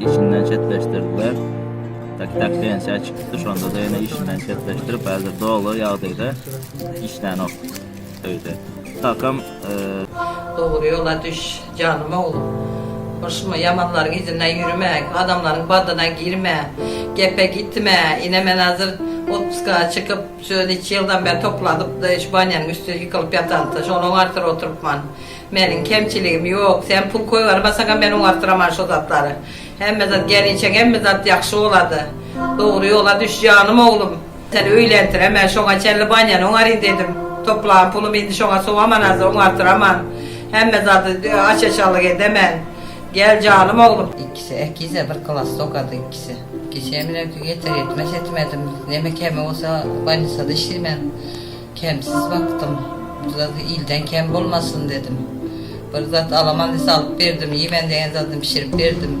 işinden çetleşdirdiler. Tak-tak pensiýa çykypdy, şonda-da ýene işinden çetleşdirip, häzir doly ýagdaýda işlänok öýde. Kakam Dogry ýola düş, janym oglum. Hoşmy, ýamanlaryň yzyndan ýüreme, adamlaryň badyna girme, gepe gitme. Ine, men häzir otpuska çykyp, şu neçe ýyldan bäri topladypdy, şu banýanyň üstüne ýykylyp ýatansoň, şonuň artyr oturypman. Meniň kemçiligim ýok, sen pul koýbermeseňem men oňardyraman şo zatlary. Hemme zat gelniçek hemme zat ýagşy bolady. Dogry ýola düş janym oglum. Sen öýlendireme şoňa çenli banýany oňaryn dedim. Toplan pulum indi şoňa sowamanada oňardyraman. Hemme zady aç-açallyk edemen. Gel janym oglum. Ikisi äkidse bir klasda okady ikisi. Kişem bilen ýeter-ýetmez ýetim edim. Neme kemi bolsa bolnisada işleýmen. Kemsiz bakdym. Bir zat ilden kem bolmasyn dedim. Bir zat alaman dese alyp berdim. Iýmen degen zadyny bişirip berdim.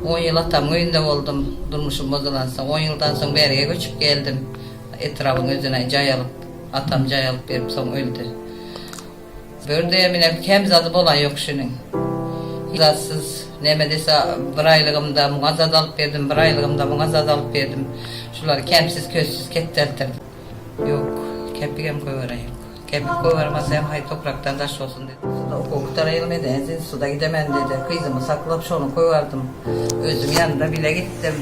On ýyl atamyň öýünde boldum. Durmuşym bozulansoň, on ýyldan soň Bärgä göçüp geldim. Etrabyň özüne jaý alyp, atam jaý alyp berip soň öldi. Bir däm ine kem zady bolan ýok şunuň. Hiç zatsyz, näme dese bir aýlygymda muňa zat alyp berdim, bir aýlygymda muňa zat alyp berdim. Şulary kemsiz-közsüz ketdeltirdim. Ýok, kepigem köweren ýok. Kepik köweri bolsa hem haý toprakdan daş bolsun diýdi. Suda okuw gutaryly meni ensin suda gidemen diýdi. Gyzymy saklap şony köwerdüm. Özüm ýanynda bile gitdim.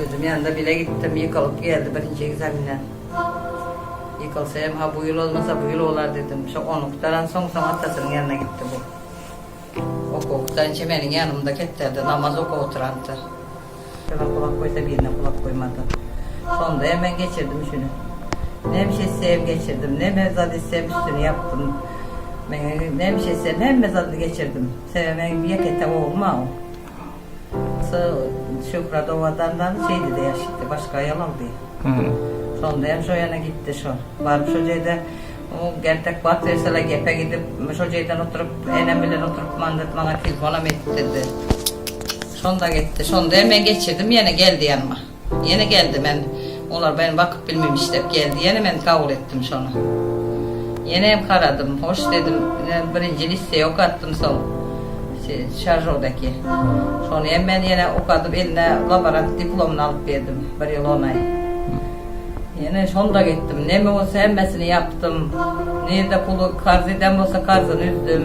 Özüm ýanynda bile gitdim. Ýykylyp geldi birinji ekzamenden. Ýykylsa hem ha bu ýyl bolmasa bu ýyl bolar diýdim. Şo ony gutaransoň soň atasynyň ýanyna gitdi bu. Okuw Sançe meniň ýanymda kepderde namaz okap oturandyr. Birine gulak goýsa, birine gulak goýmady. Şonda hem men geçirdim şüni. Nämş etseýem geçirdim. Neme zat etsem üstüni ýapdym. Meň nämş etsem hemme zadyny geçirdim. Sebäbi meň ýeke-täk oglum-a ol. Şu Şöhrat owadandan Seýdide ýaşytdy. Başga aýal aldy. Şonda hem şo ýana gitdi şo. Baryp şo jeýde gertek wagt berseler gepe gidip, şo jeýden oturyp, enem bilen oturyp mandat maňa telefonam etdirdi. Şonda gitdi. Şonda hem men geçirdim ýene geldi ýanyma. Ýene geldi men olar men bakyp bilmemiş dep geldi ýene men kabul etdim şony ýenem karadym hoş dedim ine birinji listeye okatdym soň şaržodaki şony hem men ýene okadyp eline laborant diplomyny alyp geldim bir ýyl on aý ýene şonda gitdim neme bolsa hemmesini ýapdym nirde puly karz eden bolsa karzyny üzdüm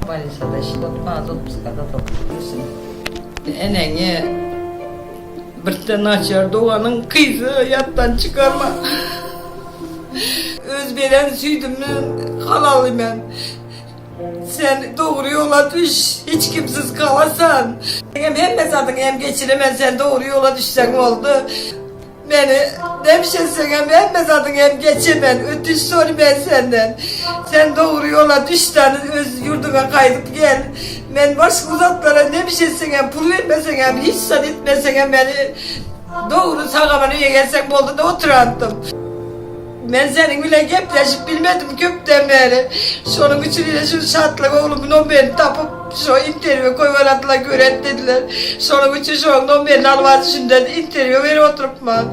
bolniçada işlap mazotpuskada dur dursun eneňi. Birde naçar doganyň gyzy ýatdan çykarma. Öz beren süýdümden halaly men. Sen dogry ýola düş, hiç kimsiz galasan. Meňem hemme zadyňy hem geçiremen, sen dogry ýola düşseň boldy. Meni nebş etseňem hemme zadyňy hem geçemen, ötünç sory men senden. Sen dogry ýola düş dany öz ýurduňa gaýdyp gel. Men boş bu zatlara ne bir şey etseňem, pul bermeseňem, hiç zat etmeseňem meni dogry sagalany egerseň boldy da oturardym. Men seniň bilen gepleşip bilmedim köpden beri. Şonuň üçin ine şu Şatlyk oglumy nomerini tapyp şo interwýu goýberadiler göret dediler. Şonuň üçin şoň nomerini alyp az şundan interwýu berip oturypman.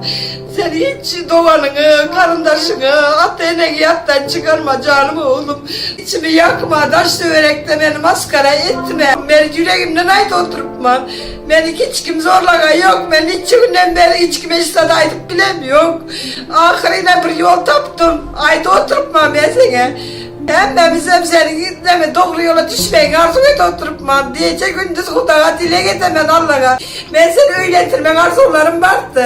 Sen hiç doganyňy, garyndaşyňy, ata-eneňi ýatdan çykarma, janym oglum. Içimi ýakma, daş-töwerekde meni masgara etme. Men ýüregimden aýdyp oturypman. Meni hiç kim zorlagan ýok. Men niçe günden bäri hiç kime hiç zat aýdyp bilem ýok. Ahyrynam bir ýol tapdym. Aýdyp oturypman men seňe. Hemmämizem seniň näme dogry ýola düşmegiňi arzuw edip oturypman. Gije-gündiz Hudaga dileg edemen, Allaga. Men seni öýlendirmek arzuwlarym bardy.